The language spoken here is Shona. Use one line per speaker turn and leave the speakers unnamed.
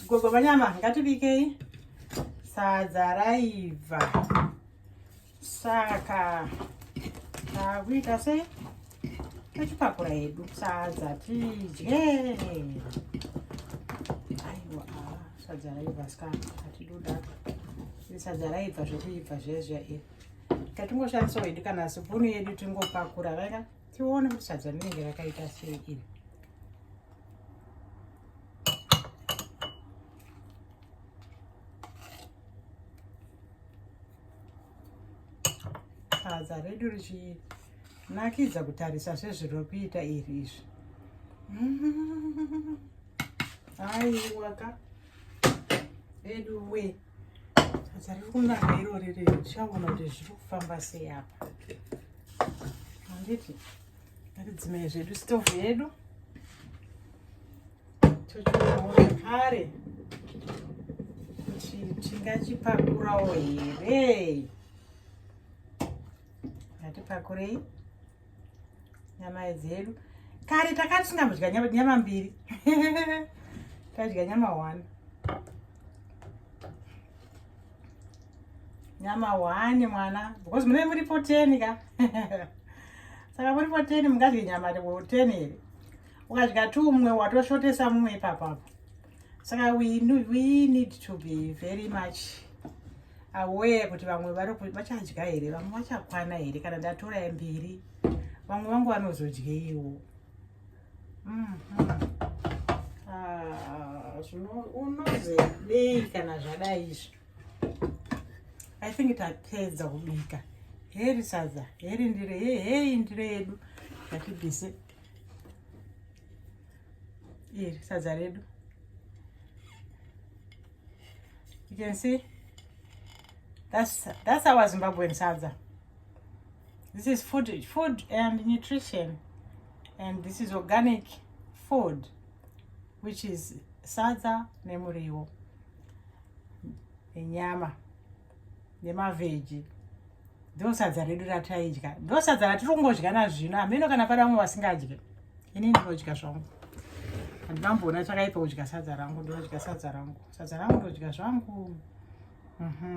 gogo vanyama ngatibikei sadza raibva saka takuita sei tochipakura hedu sadza tidye aiwa sadza raibva ska atidoda sadza raibva zvekuibva zviya zviya iri tatingoshandisawo hedu kana sipunu yedu tingopakura raka tione kuti sadza rinenge rakaita sei iri sadza redu richinakidza kutarisa sezviri kuita iri izvi aiwaka redu wee Sasa likunaka iro riri chaona kuti zviri kufamba sei apa. Handiti ngatidzimei zvedu stove yedu tochionawo zvekare kuti tingachipakurawo here. Ngatipakurei. nyama dzedu kare takati singambodya nyama mbiri tadya nyama one nyama one mwana because munee muri poteni ka saka muri poteni mungadye nyama ten here ukadya two mumwe watoshotesa mumwe ipapapo saka we, we need to be very much aware kuti vamwe vachadya here vamwe vachakwana here kana ndatora mbiri vamwe vangu vanozodyeyiwo mm -hmm. ah, unozodei kana zvadai izvi i think tapedza kubika heri sadza heri ndiro hei ndiro yedu yatibise iri sadza redu you can see that's that's our zimbabwean sadza this is food food and nutrition and this is organic food which is sadza nemuriwo nenyama nemavheji ndosadza redu rataidya ndosadza ratiri kungodya nazvino hameno kana pada vamwe vasingadye ini ndinodya zvangu handinamboona chakaipa kudya sadza rangu ndinodya sadza rangu sadza rangu ndodya zvangu mm -hmm.